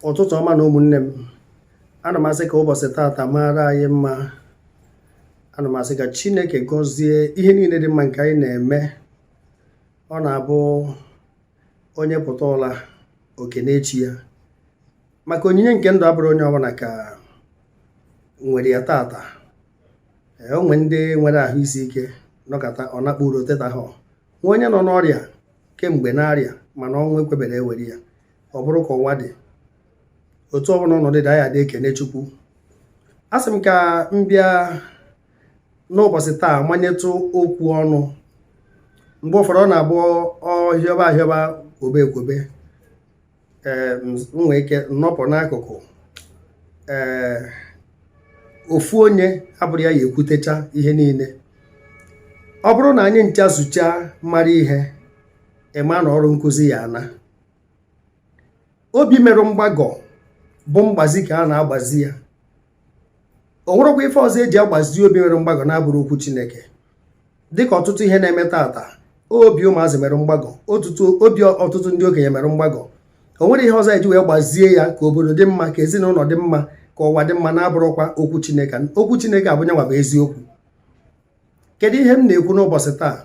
ụtụtụ ọma na ụmụnne m ana m asị ka ụbọchị taata maara anyị mma ana m asị ka chineke gọzie ihe niile dị mma nke anyị na-eme ọ na-abụ onye pụta ụla o kenee chi ya maka onyinye nke ndụ abụrọ onye ọbụla ka nwere ya taata o nwee ndị nwere ahụ isi ike nọkata ọ nakpuru o tetahọ nwee onye nọ n'ọrịa kemgbe na-arịa mana ọnwụ ekweberọ ewere ya ọ bụrụ ka ụwa dị otu ọbụla ọnọdụ dị anyị adị ekene chukwu asị m ka m bịa n'ụbọchị taa manyetụ okwu ọnụ mgbe ụfọdụ ọ na-abụ ọ hịọba ahịọba kwobe ekwobe nwee ike nọpụ n'akụkụ ee ofu onye abụrọ ya ya-ekwutecha ihe niile ọ bụrụ na anyị ncha zuchaa mara ihe ị ma na ọrụ nkuzi ya-ana obi merụ mgbagọ bụ mgbazi ka a na-agbazi ya o nwerekwa ife ọzọ eji agbazi obi nwere mgbagọ na-abụrọ okwu chineke dịka ọtụtụ ihe na-eme taata obi ụmụazị mere mgbagọ obi ọtụtụ ndị okenye mere mgbagọ o nwere ihe ọzọ eji wee gbazie ya ka obodo dị mma ka ezinụlọ dị mma ka ụwa dị mma na-abụrọkwa okwu chineke okwu chineke a bụ nyanwa bụ eziokwu kedu ihe m na-ekwu n'ụbọchị taa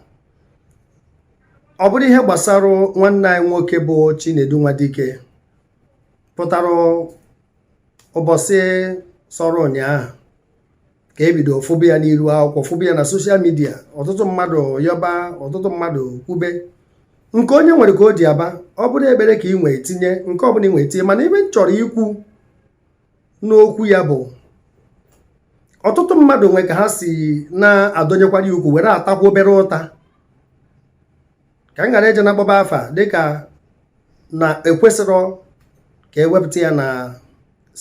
ọ bụrụ ihe gbasara nwanne anyị nwoke bụ Chinedu Nwadike pụtara ụbọchị sọrọ ụnyaahụ ka ebido fụba ya n'iru akwụkwọ fụba ya na soshal midia ọtụtụ mmadụ yọba ọtụtụ mmadụ kwube nke onye nwere ka o ji aba ọ bụrụ ekpere ka ị nwee tinye nke ọbụla ị nwee tinye mana ife m chọrọ ikwu n'okwu ya bụ ọtụtụ mmadụ nwee ka ha si na-adọnyekwara ya ukwu were atakwa obere ụta ka m ghara eje na-akpọba afa dịka na ekwesịrọ ka ewepụta ya na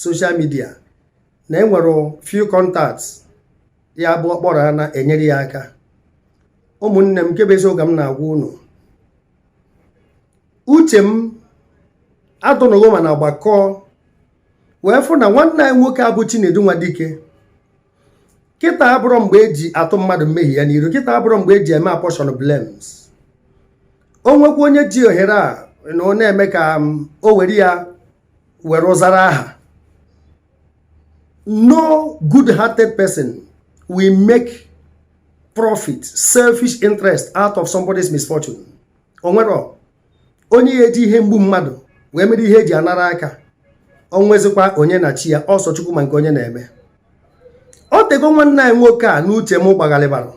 soshal midia na enwere few contacts ya bụ ọ kpọrọ ha na-enyere ya aka ụmụnne m nke bụ eziokwu m na-agwa unu uche m adụnụgo m ana gbakọọ wee fụ na nwanne anyị nwoke a bụ Chinedu Nwadike. kịta abụrọ mgbe eji atụ mmadụ mmehie ya n'iru kịta abụrọ mgbe eji eme apportion blames o nwekwa onye ji ohere a na ọ na-eme ka um, o were ya were zara aha no good hearted person will make profit selfish interest out of somebody's misfortune o nwere onye ya eji ihe mgbu mmadụ wee mere ihe eji anara aka o nwezikwa onye na chi ya ọ sọ chukwu ma nke onye na-eme o tego nwanne anyị nwoke a n'uche m gbagharịbara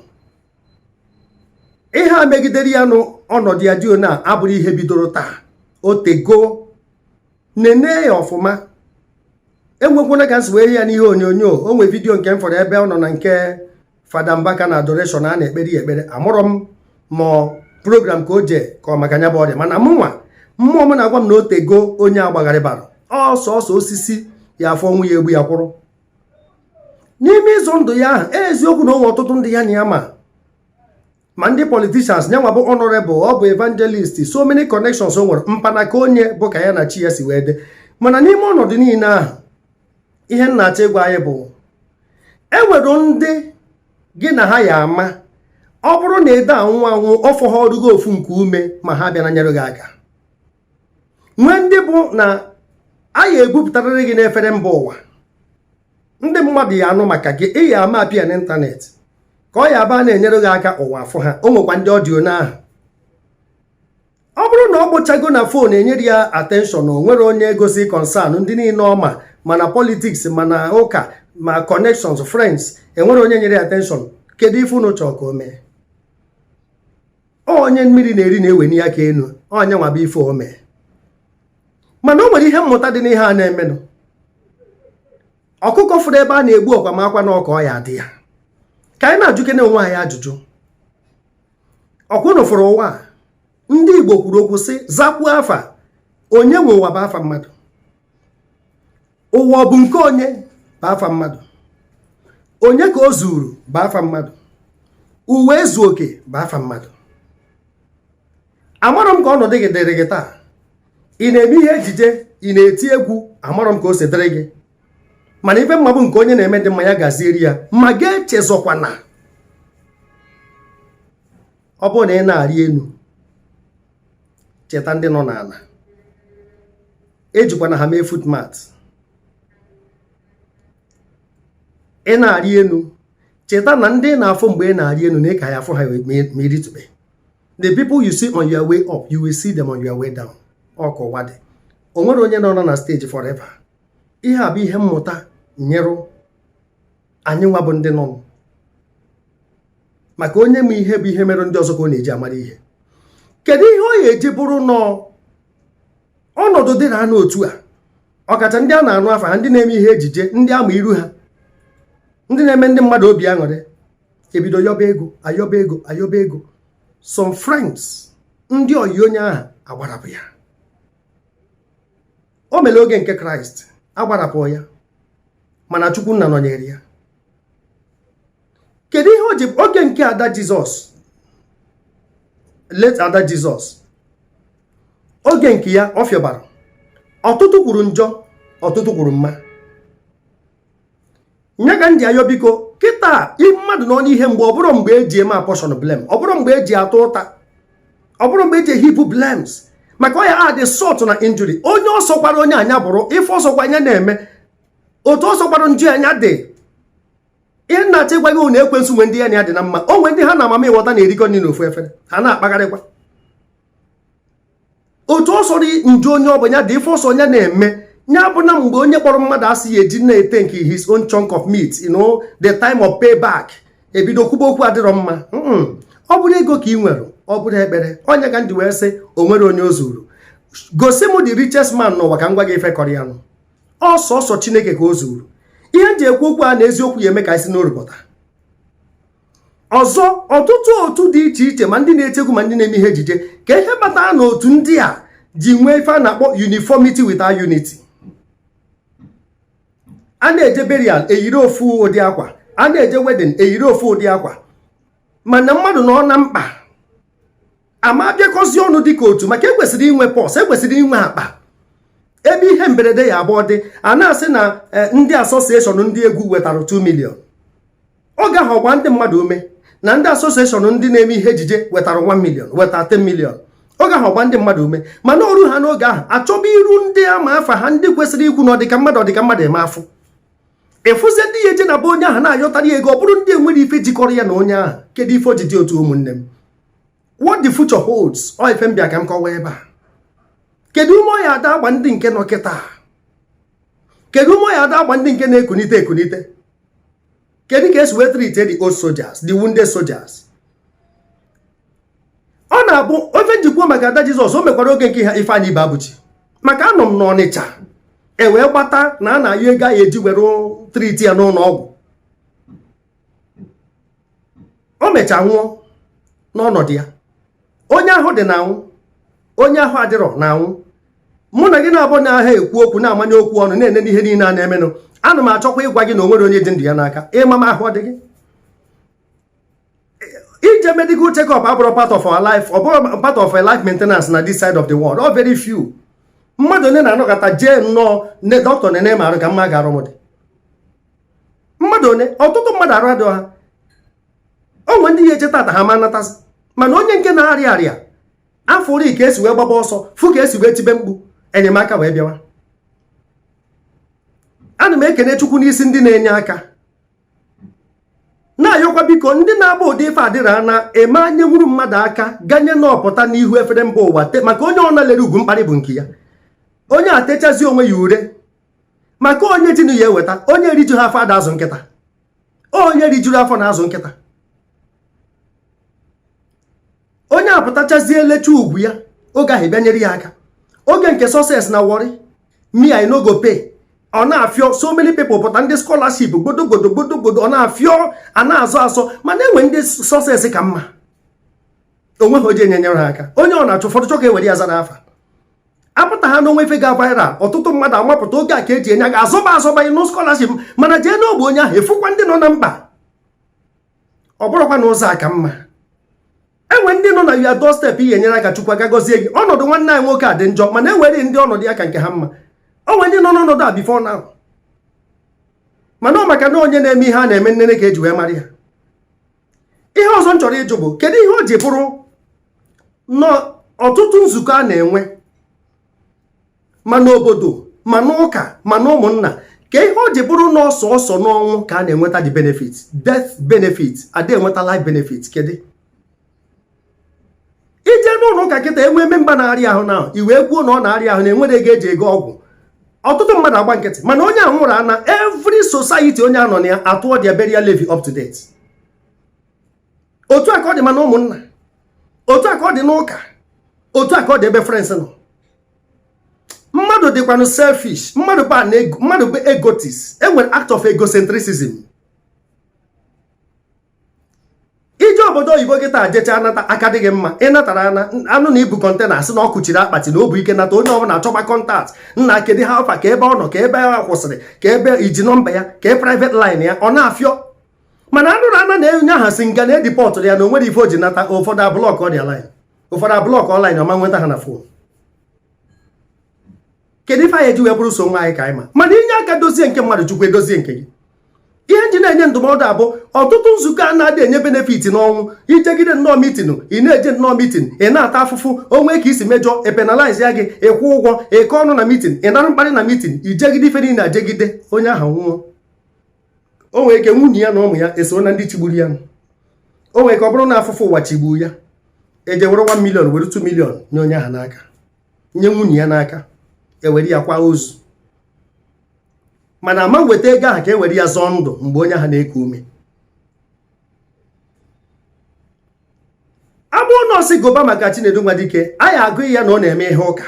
ihe a megidere ya n'ọnọdụ ya dị ona abụrọ ihe bidoro taa o tego nene ya ọfụma enwekwana ka m si wee hụ ya n'ihe onyonyo o nwee vidiyo nke m fụrụ ebe ọ nọ na nke fada mbaka na adoration a na-ekpere ya ekpere amarọ m ma program ka o jee ka ọ maka nya bụ ọrịa mana mụ nwa mmụọ m na-agwa m na o tego onye a gbagharịbara ọ sọsọ osisi ya afụ ọnwụ ya egbu ya kwụrụ n'ime ịzọ ndụ ya ahụ eziokwu na o nwe ọtụtụ ndị ya na ha ma ma ndị politicians nyanwa bụ honorable ọ bụ evangelist so many connections o nwere mpanaka onye bụ ka ya na chi ya si wee dị mana n'ime ọnọdụ niile ahụ ihe m na-achọ ịgwa anyị bụ enwere ndị gị na ha ya ama ọ bụrụ na ị dị anwụ anwụ ọ fọghọrụ gị ofu nke ume ma ha abịana nyere gị aka nwee ndị bụ na a ya ebupụtarịrị gị n'efere mba ụwa ndị mmadụ ya anụ maka gị ị ya ama appear n'ịntanetị ka ọ ya abụ a na-enyere gị aka ụwa afụ ha o nwekwa ndị ọ dị ona ahụ ọ bụrụ na ọ kpọchago na fon enyere ya atenshọn o nwere onye gosi kọnsan ndị niile ọ ma ma na politiks ma na ụka ma connections friends enwere onye nyere ya atenshọn kedu ife unu chọọ ka o mee onye mmiri na-eri na-eweni aka enu ọ nyanwa bụ ife o mee mana o nwere ihe mmụta dị n'ihe a na-emenụ ọkụkọ fụrụ ebe a na-egbu ọkwa makwa na ọ ka ọ ya adị ya ka anyị na-ajụkene onwe anyị ajụjụ ọ kwa unu fụrụ ụwa ndị Igbo kwuru okwu sị zakwuo afa onye nwe ụwa bụ afa mmadụ ụwa ọ bụ nke onye bụ afa mmadụ onye ka o zuru bụ afa mmadụ ụwa ezu oke bụ afa mmadụ amarọ m ka ọnọdụ gị dịrị gị taa ị na-eme ihe ejije ị na-eti egwu amarọ m ka o si dịrị gị mana ife m ma bụ nke onye na-eme dị mma ya gazieri ya ma gị echezọkwana ọ bụrụ na ị na-arị enu cheta ndị nọ n'ana ejikwana ha mee footmat ị na-arị enu cheta na ndị ị na-afụ mgbe ị na-arị enu na ị ka ya afụ ha ma ị rịtube the people you see on your way up you will see them on your way down ọ ka ụwa dị o nwere onye nọ na steji forever ihe a bụ ihe mmụta nyere anyị nwa bụ ndị nọ maka onye ma ihe bụ ihe mere ndị ọzọ ka ọ na-eji amara ihe kedu ihe ọ ya eji bụrụ na ọnọdụ dị na anụ otu a ọkacha ndị a na-anụ afa ha ndị na-eme ihe ejije ndị ama iru ha ndị na-eme ndị mmadụ obi aṅụrị ebido yọba ego ayọba ego ayọba ego some friends ndị oyi onye ahụ agbarapụ ya o mere oge nke kraịst agbarapụ ya mana chukwu nna nọnyere ya kedu ihe o ji oge nke ada jizọs late ada jizọs oge nke ya ọ fịọbara ọtụtụ kwuru njọ ọtụtụ kwuru mma ya ka m ji ayọ biko kịta mmadụ nọ n'ihe mgbu ọ bụrọ mgbe eji eme apportion blame ọ bụrọ mgbe eji atụ ụta ọ bụrọ mgbe eji heap blames maka ọ ya add salt na injury onye ọ sọkwara onye a nya bụrụ ife ọ sọkwa nya na-eme otu ọ sọkwara njọ ya nya dị ihe m na-achọ ịgwa gị bụ na ekwensu nwe ndị ya na ya dị na mma o nwe ndị ha na mami wọta na-erikọ nri n'ofu efere ha na-akpagharịkwa otu ọ sọrọ njọ onye ọ bụ ya dị ife ọ sọ nya na-eme ya abụna mgbe onye kpọrọ mmadụ asị ya eji na-etake his own chunk of meat you know the time of payback ebido kwuba okwu adịrọ mma ọ bụrụ ego ka ị nwere ọ bụrụ ekpere ọ nya ka m ji wee sị o nwerọ onye o zuru gosi m the richest man n'ụwa ka m gwa gị ife kọrọ ya nụ ọ sọsọ chineke ka o zuru ihe m ji ekwu okwu a na eziokwu ya eme ka anyị si n'oru pụta ọzọ ọtụtụ otu dị iche iche ma ndị na-eti egwu ma ndị na-eme ihe ejije ka ihe kpatara na otu ndị a ji nwee ife a na-akpọ uniformity without unity a na-eje burial eyiri ofu ụdị akwa a na-eje wedding eyiri ofu ụdị akwa mana mmadụ nọ na mkpa ama abịakọzi ọnụ dị ka otu maka ekwesịrị inwe purse ekwesịrị inwe akpa ebe ihe mberede ya abụ ọ dị a na-asị na eh, ndị association ndị egwu wetara 2 million ọ gaghị agba ndị mmadụ ume na ndị association ndị na-eme ihe ejije wetara 1 million wetara 10 million ọ gaghị agba ndị mmadụ ume mana o ru ha n'oge ahụ achọba iru ndị ama afa ha ndị kwesịrị ikwu na ọdịka mmadụ ọdịka mmadụ ị ma afụ ị fụzie ndị ya eje na be onye ahụ na-ayọtara ya ego ọ bụrụ ndị enwerọ ife jikọrọ ya na onye ahụ kedu ife o ji dị otu a ụmụnne m what the future holds ọ ife m bịa ka m kọwa ebe a kedu ume ọ ya ada agba ndị nke nọ kịta kedu ume ọ ya ada agba ndị nke na-ekunite ekunite kedu ka esi wee treat the old soldiers the wounded soldiers ọ nya bụ ife m ji kwuo maka ada jizọs o mekwara oge nke ha ifeanyị ibeabụchi maka anọ m n'ọnịcha e wee gbata na a na-ayọ ego a ya eji were treat ya n'ụnọ ọgwụ o mecha nwụọ n'ọnọdụ ya onye ahụ dị na-anwụ onye ahụ adịrọ na-anwụ mụ na gị na-abụ anaha ekwu okwu na-amanye okwu ọnụ na-ene n'ihe niile a na-emenụ ana m achọkwa ịgwa gị na onwerọ onye ji ndụ ya n'aka ịma ma ahụ ọ dị gị ije medical check up abụrọ part of our life ọ bụrọ part of our life maintenance na this side of the world ọ very few mmadụ onye na-anọkata jee nnọọ na dọkịta nene m arụ ka m ma ka arụ m dị mmadụ onye ọtụtụ mmadụ arụ adịghị ha onwe ndị ya eche tata ha ma natasị mana onye nke na-arịa arịa afụrụ ka esi wee gbaba ọsọ fụ ka esi wee tibe mkpu enyemaka wee bịawa ana m ekene chukwu n'isi ndị na-enye aka na-ayọkwa biko ndị na-agba ụdị ife adịra na eme enye nwuru mmadụ aka ganye na ọ pụta n'ihu efere mba ụwa maka onye ọ na-lere ugwu mkparị bụ nke ya onye atechazi onwe ya ure maka onye jinu ya eweta onye rijuha afọ ada azụ nkịta onye rijuru afọ na-azụ nkịta onye apụtachazie elecha ugwu ya oge ahụ abịa nyere ya aka oge nke success na warri me i no go pay ọ na-afịọ so many people pụta ndị scholarship gbodogodo gbodogodo ọ na-afịọ a na-azọ azọ mana enwe ndị success ka mma onweghị onye je nyere ha aka onye ọ na-achụ ụfọdụ chọ ka ewere ya zara afa apụtaha na onwe ife ga viral ọtụtụ mmadụ amapụta oge a ka eji enye aga azọba azọba inye scholarship mana jee n'ogbe onye ahụ ị fụkwa ndị nọ na mkpa ọ bụrụkwa na ụzọ a ka mma enwe ndị nọ na your doorstep ị ya-enyere aka chukwu aga gọzie gị ọnọdụ nwanne anyị nwoke a dị njọ mana enwere ndị ọnọdụ ya ka nke ha mma onwe ndị nọ n'ọnọdụ a before now mana ọ maka na onye na-eme ihe a na-eme nnene ka eji wee mara ya ihe ọzọ m chọrọ ịjụ bụ kedu ihe o ji bụrụ n'ọtụtụ nzukọ a na-enwe ma n'obodo ma n'ụka ma n'ụmụnna ka ihe o ji bụrụ na ọ sọọsọ n'ọnwụ ka a na-enweta the benefit death benefit ada enweta life benefit kedu ị jee n'ụlọ ụka kịta enwee member na-arịa ahụ na ewee kwuo na ọ na-arịa ahụ na enwerọ ego eji ego ọgwụ ọtụtụ mmadụ agba nkịtị mana onye ahụ nwụrụ ana every society onye a nọ na ya atụọ their burial levy up to date otu a ka ọ dị ma na ụmụnna otu a ka ọ dị n'ụka otu a ka ọ dị ebe friends nọ mmadụ dịkwanụ selfish mmadụ bụ mmadụ bụ egotist enwere act of egocentrism ije obodo oyibo kịta jecha anata aka adịghị mma ị natara anụ na ibu container asị na ọ kụchiri akpati na obu ike nata onye ọbụla achọba contact nna kedu how far ka ebe ọ nọ ka ebe a kwụsịrị ka ebe i ji nọmba ya ka private line ya ọ na-afịọ mana anụrụ ana na onye ahụ si nga na e dipọtụrụ ya na onwerọ ife o ji nata ụfọdụ ablọkọ ya line ụfọdụ ablọk ọnlaịn ọ ma enweta ha na fon kedu ife anyị eji wee bụrụ sọ onwe anyị ka anyị ma mana ị nye aka dozie nke mmadụ chukwu edozie nke gị ihe m ji na-enye ndụmọdụ a bụ ọtụtụ nzukọ a na-adị enye benefit n'ọnwụ i jegide nnọọ mitin ị na-eje nnọọ mitin ị na-ata afụfụ o nwee ka i si mejọ epenalize ya gị ị kwụọ ụgwọ ịkọ ọnụ na mitin ị nara mkparị na mitin i jegide ife niile ajegide onye ahụ nwụọ o nwere ike nwunye ya na ụmụ ya esoro na ndị chigburu ya o nwere ike ọ bụrụ na afụfụ ụwa chigburu ya e jee were 1 million were 2 million nye onye ahụ n'aka nye nwunye ya n'aka e were ya kwaa ozu mana a ma eweta ego ahụ ka e were ya zọọ ndụ mgbe onye ahụ na-eku ume abụọ nọọsụ goba maka Chinedu Nwadike anyị agụ ya na ọ na-eme ihe ụka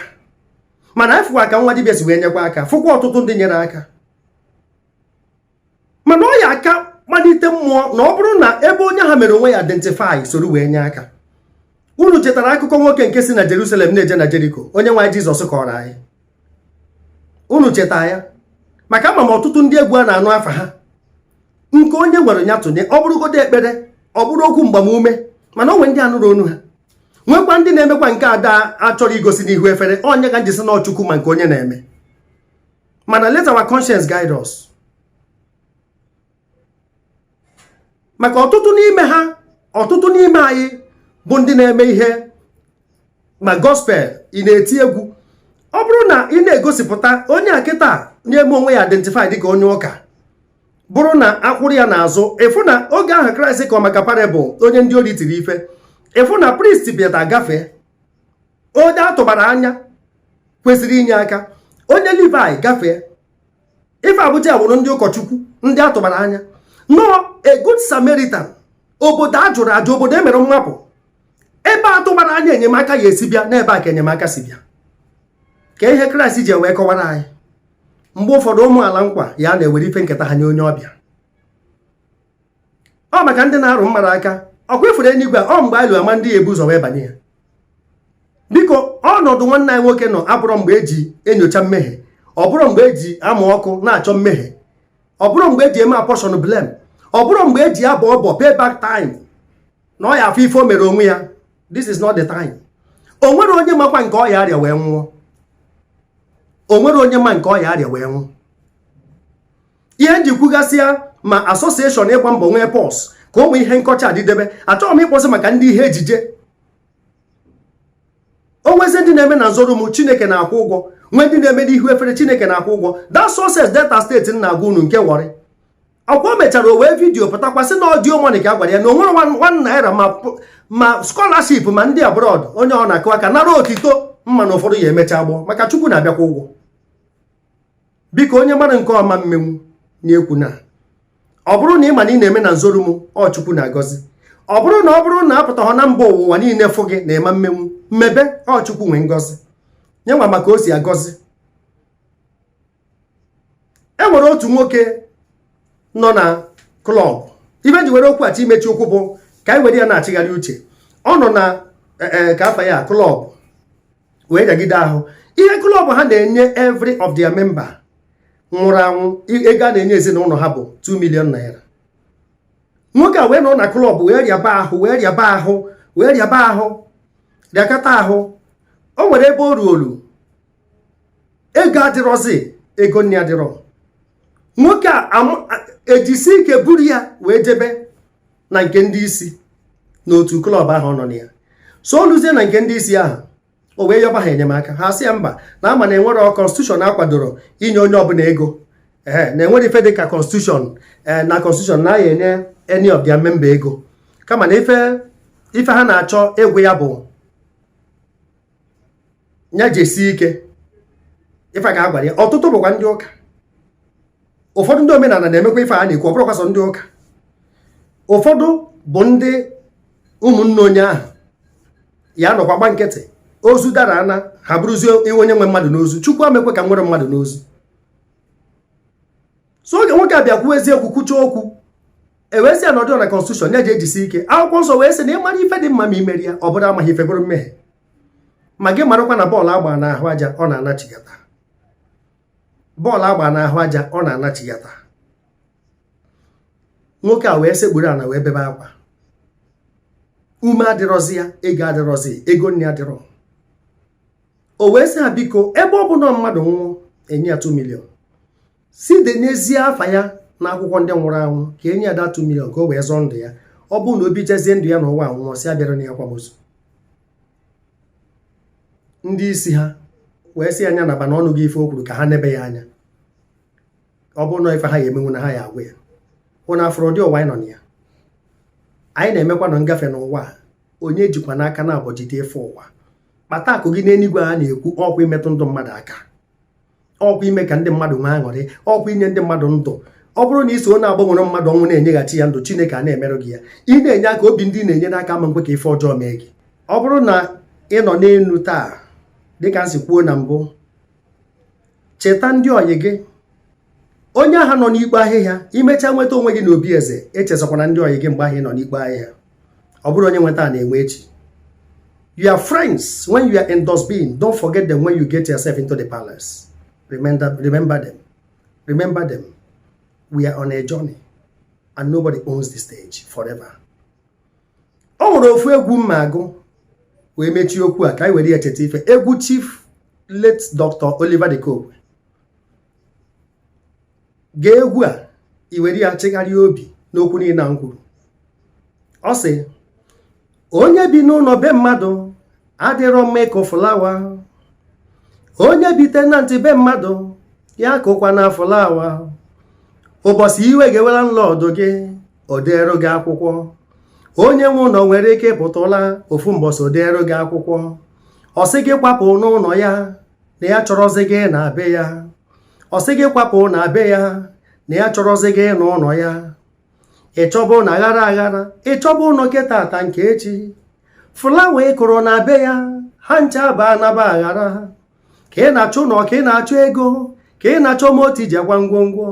mana anyị fụkwa ka nwa dibịa si wee nyekwa aka fụkwa ọtụtụ ndị nyere aka mana ọ ya-aka kpalite mmụọ na ọ bụrụ na ebe onye ahụ mere onwe ya identify soro wee nye aka unu chetara akụkọ nwoke nke si na Jerusalem na-eje na Jeriko onye nwe anyị Jizọs kọọrọ anyị unu cheta ya maka ama m ọtụtụ ndị egwu a na-anụ afa ha nke onye nwere ya tụnye ọ bụrụgodo ekpere ọ bụrụ okwu mgbamume mana o nwe ndị a nụrụ onu ha nwekwa ndị na-emekwa nke ada achọrọ igosi n'ihu efere ọ nya ka m ji sị na ọ chukwu ma nke onye na-eme mana let our conscience guide us maka ọtụtụ n'ime ha ọtụtụ n'ime anyị bụ ndị na-eme ihe ma gospel ị na-eti egwu ọ bụrụ na ị na-egosipụta onye a kịta na-eme onwe ya identify dịka onye ụka bụrụ na a kwụrụ ya n'azụ ị fụ na oge ahụ kraịst kọọ maka parable onye ndị ori tiri ife ị fụ na priest bịata gafee onye a tụbara anya kwesịrị inye aka onye Livaị gafee ife a bụcha wụrụ ndị ụkọchukwu ndị a tụbara anya no a good Samaritan obodo a jụrụ ajụ obodo e mere mmapụ ebe atụbara anya enyemaka ya-esi bịa n'ebe a ka enyemaka si bịa ka ihe kraịst ji wee kọwara anyị mgbe ụfọdụ ụmụ ala nkwa ya na-ewere ife nketa ha nye onye ọbịa ọ maka ndị na-arụ mmadụ aka ọ kwa ị fụrụ enuigwe ọ mgbe anyị lu a ma ndị ya-ebu ụzọ wee banye ya biko ọnọdụ nwanne anyị nwoke nọ abụrọ mgbe e ji enyocha mmehie ọ bụrọ mgbe e ji amụ ọkụ na-achọ mmehie ọ bụrọ mgbe e ji eme apportion blame ọ bụrọ mgbe e ji abọ ọbọ pay back time na ọ ya-afụ ife o mere onwe ya this is not the time o nwere onye makwa nke ọ ya-arịa wee nwụọ o nwere onye ma nke ọ ya-arịa wee nwụọ ihe m ji kwugasịa ma association ịgba mbọ nwee purse ka ụmụ ihe nkọcha adịdebe achọghị m ịkpọsị maka ndị ihe ejije o nwezi ndị na-eme na nzoru m chineke na-akwụ ụgwọ nwee ndị na-eme n'ihu efere chineke na-akwụ ụgwọ that success delta steeti na-agwa unu nke warri akwụkwọ mechara o wee vidiyo pụtakwasị na audio money ka a gwara ya na o nwere one naira ma scholarship ma ndị abroad onye ọ na-akụ aka nara otito mana ụfọdụ ya emecha gbọ maka chukwu na-abịakwa ụgwọ biko onye mara nke ọma mmenwu na-ekwu na ọ bụrụ na ị ma na ị na-eme na nzoru m ọ chukwu na-agọzi ọ bụrụ na ọ bụrụ na apụtaghọ na mba ụwa niile fụ gị na ị ma-emenwu mebe ọ chukwu nwe ngọzi nya nwa ma ka o si agọzi e nwere otu nwoke nọ na klọb ife m ji were okwu a chọọ imechi okwu bụ ka anyị were ya na-achịgharị uche ọ nọ na e, e, ka afa ya klọb wee rịagide ahụ ihe klọb ha na-enye every of their member nwụrụ anwụ ego a na-enye ezinụnọ ha bụ 2 million naira nwoke a wee nọ na klọb wee rịaba ahụ wee rịaba ahụ wee rịaba ahụ rịakata ahụ o nwere ebe o ruolu ego adịrọzi ego nni adịrọ nwoke a ejisi ike buru ya wee jebe na nke ndị isi n'otu klọb ahụ ọ nọ na ya so o luzie na nke ndị isi ahụ o wee yọba ha enyemaka ha sị ya mba na ama na enwere kọnstitushọn akwadoro inye onye ọbụla ego ee na enwere ife dị ka kọnstitushọn ee na kọnstitushọn na a ya-enye any of their member ego kama na ife ife ha na-achọ ịgwa ya bụ ya jisie ike ife a ka a gwara ya ọtụtụ bụkwa ndị ụka ụfọdụ ndị omenala na-emekwa ife a na-ekwu ọ bụrọkwa sọ ndị ụka ụfọdụ bụ ndị ụmụnne onye ahụ ya-anọkwa gba nkịtị ozu dara ana ha bụrụzie iwe onye nwe mmadụ n'ozu chukwu amekwe ka nwere mmadụ n'ozu so oge nwoke a bịa kwuo eziokwu kwucha okwu e wee sị ya na ọ dịrọ na konstitushọn ya ji ejisi ike akwụkwọ nsọ wee sị na ịmara ife dị mma ma i merọ ya ọ bụrụ amaghị ife bụrụ mmehie ma gị marakwa na bọọlụ agba n'ahụ aja ọ na-anachigata bọọlụ agba n'ahụ aja ọ na-anachigata nwoke a wee sekpuru ana wee bebe akwa ume adịrọzi ya ego adịrọzi ego nni adịrọ o wee sị ha biko ebe ọ bụ na mmadụ nwụọ enye ya 2 million si denyezie afa ya n'akwụkwọ ndị nwụrụ anwụ ka enye ya that 2 million ka o wee zọọ ndụ ya ọ bụrụ na o bichezie ndụ ya n'ụwa nwụọ sị abịarana ya akwamozu ndị isi ha wee sị ya nya naba na a nụgo ife o kwuru ka ha nebe ya anya ọ bụrụ na ife ha ya emenwu na ha ya agwa ya unu afụrọ ụdị ụwa anyị nọ na ya anyị na-emekwa na ngafe n'ụwa onye jikwana aka naabọ jide ife ụwa kpata akụ gị n'eluigwe a na-ekwu ọ kwa imetụ ndụ mmadụ aka ọkwa ime ka ndị mmadụ nwee aṅụrị ọkwa inye ndị mmadụ ndụ ọ bụrụ na i so na-agbanwere mmadụ ọnwụ na-enyeghachi ya ndụ chineke ana-emerụ gị ya ị na-enye aka obi ndị na-enye aka ama nkwe ka ife ọjọọ mee gị ọ bụrụ na ị nọ n'enu taa dịka m si kwuo na mbụ cheta ndị ọyị gị onye ahụ nọ n'ikpo ahịhịa i mechaa nweta onwe gị n'obi eze echezọkwana ndị ọyị gị mgbe ahụ ị nọ n'ikpo ahịhịa ọ bụrọ onye nwe taa na-enwe echi your friends when you are in dustbin don't forget them when you get yourself into the palace remember them remember them we are on a journey and nobody owns the stage forever o nwere ofu egwu m ma-agụ wee mechie okwu a ka anyị were ya cheta ife egwu chief late Dr. Oliver de Coque gee egwu a i were ya chegharịa obi n'okwu niile m kwuru ọ sị onye bi n'ụnọ be mmadụ adịrọ mma ịkụ fụlawa onye bi tenant be mmadụ ya akụkwana fụlawa ụbọsị iwe ga-ewe landlord gị o deerụ gị akwụkwọ onye nwe ụnọ nwere ike ịpụta ofu mbọsị o deerụ gị akwụkwọ ọ sị gị kwapụ n'ụnọ ya na ya achọrọzi gị na be ya ọ sị gị kwapụ na be ya na ya achọrọzi gị n'ụnọ ya ị chọba ụnọ aghara aghara ị chọba ụnọ nke tata nke echi fụlawa ị kụrụ na be ya ha ncha ba anaba aghara ka ị na-achọ ụnọ ka ị na-achọ ego ka ị na-achọ moto i ji akwa ngwongwo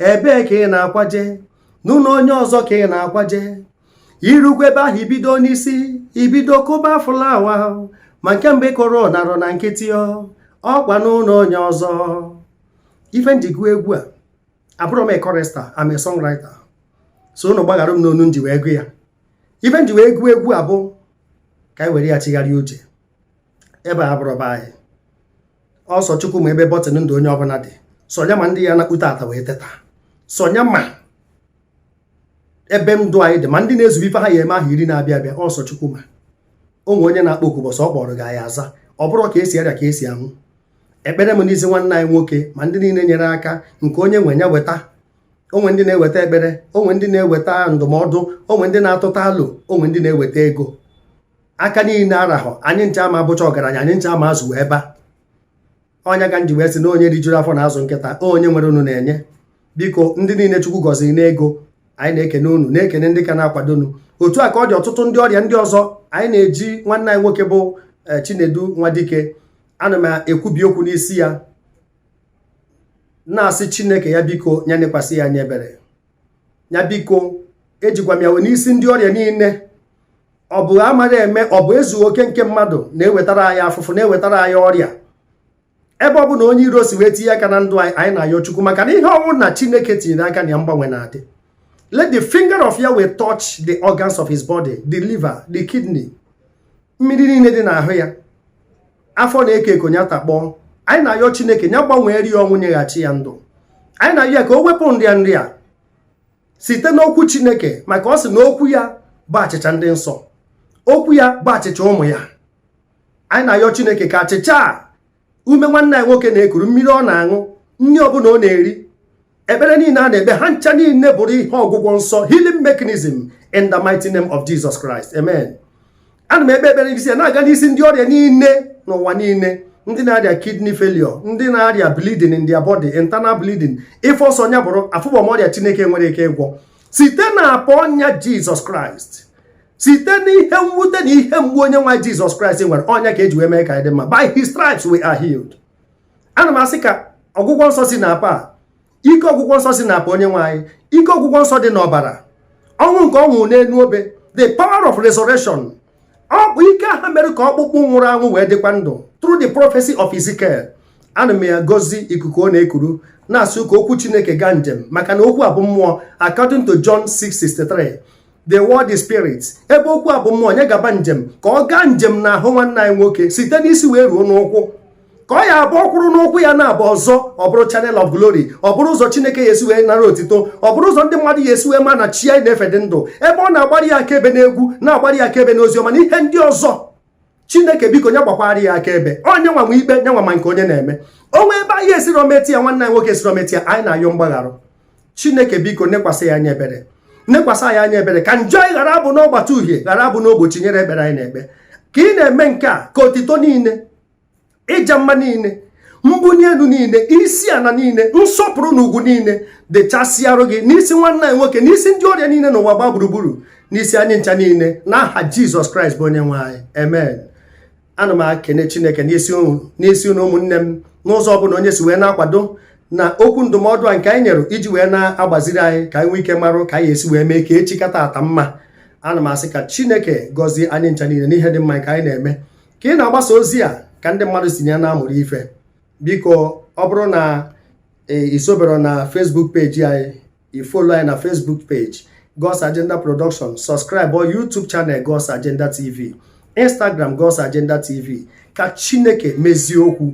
ebee ka ị na-akwaje n'ụnọ onye ọzọ ka ị na-akwaje i rukwa ebe ahụ i bido n'isi i bido kụba fụlawa ma nke mbụ ị kụrụ narụ na nkịtị ọkwa n'ụnọ onye ọzọ ife m ji gụ egwu a abụrọ m chorister am a songwriter so unu gbaghara m n'onu m ji wee gụ ya ife m ji wee gụọ egwu a bụ ka anyị were ya chigharịa uche ebe a abụrọ be anyị ọ sọ chukwu ma ebe bọtịn ndụ onye ọbụla dị sọ nya ma ndị ya-anakpu taata wee teta sọ nya ma ebe ndụ anyị dị ma ndị na-ezube ife ha ya-eme ahọ iri na-abịa abịa ọ sọ Chukwu ma o nwe onye na-akpọ oku mbọsị ọ kpọrọ gị anyị aza ọ bụrọ ka e si arịa ka e si anwụ ekpere m n'isi nwanne anyị nwoke ma ndị niile nyere aka nke onye nwe ya weta o nwe ndị na-eweta ekpere o nwe ndị na-eweta ndụmọdụ o nwe ndị na-atụta alo o nwe ndị na-eweta ego aka niile arahọ anyị ncha ama abụcha ọgaranya anyị ncha ama azụ ebe a ọ nya ka m ji wee sị na onye rijuru afọ na-azụ nkịta onye nwerenụ na-enye biko ndị niile chukwu gọziri n'ego anyị na-ekene unu na-ekene ndị ka na-akwado unu otu a ka ọ dị ọtụtụ ndị ọrịa ndị ọzọ anyị na-eji nwanne anyị nwoke bụ eh, chinedu nwadike ana m ekwubi okwu n'isi ya na-asị chineke ya biko ya nekwasị ya anya ebere ya biko ejikwa m ya wee n'isi ndị ọrịa niile ọ bụ amaghị eme ọ bụ ezughị oke nke mmadụ na-ewetara anyị afụfụ na-ewetara anyị ọrịa ebe ọ bụ na onye iro si wee tinye aka na ndụ anyị anyị na-ayọ chukwu maka na ihe ọbụna chineke tinyere aka na ya mgbanwe na-adị let the finger of Yahweh touch the organs of his body the liver the kidney mmiri niile dị n'ahụ ya afọ na-eko eko ya takpọọ anyị na-ayọ chineke ya gbanweeri ya ọnwụ nyeghachi ya ndụ anyị na-ayọ ya ka o wepụ nrịa nrịa site n'okwu chineke maka ọ sị na okwu ya bụ achịcha ndị nsọ okwu ya bụ achịcha ụmụ ya anyị na-ayọ chineke ka achịcha a ume nwanne anyị nwoke na-ekuru mmiri ọ na-aṅụ nri ọbụla ọ na-eri ekpere niile a na-ekpe ha ncha niile bụrụ ihe ọgwụgwọ nsọ healing mechanism in the mighty name of Jesus Christ amen ana m ekpe ekpere n'isi ya na-aga n'isi ndị ọrịa niile n'ụwa niile ndị na-arịa kidney failure ndị na-arịa bleeding in their body internal bleeding ife ọ sọ nya bụrụ afụbọ m ọrịa chineke enwerọ ike ịgwọ site na apa ọnya jizọs kraịst site n'ihe mwute na ihe mgbu onye nwe anyị jizọs kraịst nwere ọnya ka eji wee mee ka anyị dị mma by his stripes we are healed ana m asị ka ọgwụgwọ nsọ si na apa ike ọgwụgwọ nsọ si na apa onye nwe anyị ike ọgwụgwọ nsọ dị n'ọbara ọnwụ nke ọ nwụrụ n'elu obe the power of resurrection ọ bụ ike ahụ mere ka ọkpụkpụ nwụrụ anwụ wee dịkwa ndụ through the prophecy of Ezekiel ana m ya agọzi ikuku ọ na-ekuru na-asị ka okwu chineke gaa njem maka na okwu a bụ mmụọ according to John 6:63 the word is spirit ebe okwu a bụ mmụọ nya gaba njem ka ọ gaa njem na ahụ nwanne anyị nwoke site n'isi wee ruo n'ụkwụ ka ọ ya abụ ọ kwụrụ n'ụkwụ ya naabọ ọzọ ọ bụrụ channel of glory ọ bụrụ ụzọ chineke ya esi wee nara otito ọ bụrụ ụzọ ndị mmadụ ya esi wee ma na chi anyị na-efe dị ndụ ebe ọ na-agbari ya akaebe n'egwu na-agbari ya akaebe n'ozi ọma na ihe ndị ọzọ chineke biko nya gbakwara ya akaebe onye nwe anyị nwe ikpe onye nwe anyị ma nke onye na-eme o nwee ebe anyị siri wee meta ya nwanne anyị nwoke siri wee meta ya anyị na-ayọ mgbagharụ chineke biko nekwasị ya anya ebere nekwasị anyị anya ebere ka njọ anyị ghara abụna ọgbata uhie ghara abụna ogbochi nyere ekpere anyị na-ekpe ka ị na-eme nke a ka otito niile ịja mma niile mbuni enu niile isi ana niile nsọpụrụ na ugwu niile dịchasịarụ gị n'isi nwanne anyị nwoke n'isi ndị ọrịa niile n'ụwa gbaa gburugburu n'isi anyị ncha niile n'aha jizọs kraịst bụ onye nwe anyị amen ana m akene chineke n'isi unu n'isi unu ụmụnne m n'ụzọ ọbụla onye si wee na-akwado na okwu ndụmọdụ a nke anyị nyere iji wee na-agbaziri anyị ka anyị nwee ike marụ ka anyị esi wee mee ka echi ka taata mma ana m asị ka chineke gọzie anyị ncha niile n'ihe dị mma ka anyị na-eme ka ị na-agbasa ozi a ka ndị mmadụ si na ya na-amụrụ ife biko ọ bụrụ na i sobero na Facebook page anyị i follow anyị na Facebook page God's Agenda Production subscribe our YouTube channel God's Agenda TV Instagram God's Agenda TV ka Chineke mezie okwu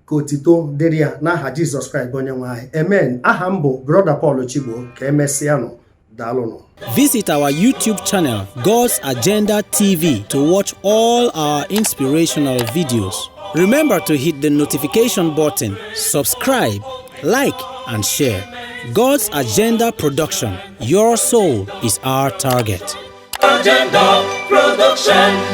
ka otito dịrị ya n'aha jizọs kraịst onye nwe anyị amen aha m bụ Brother Paul chigbo ka emesịanụ daalụnụ Visit our YouTube channel, God's Agenda TV, to watch all our inspirational videos. Remember to hit the notification button, subscribe, like, and share. God's Agenda Production Your soul is our target. Agenda Production.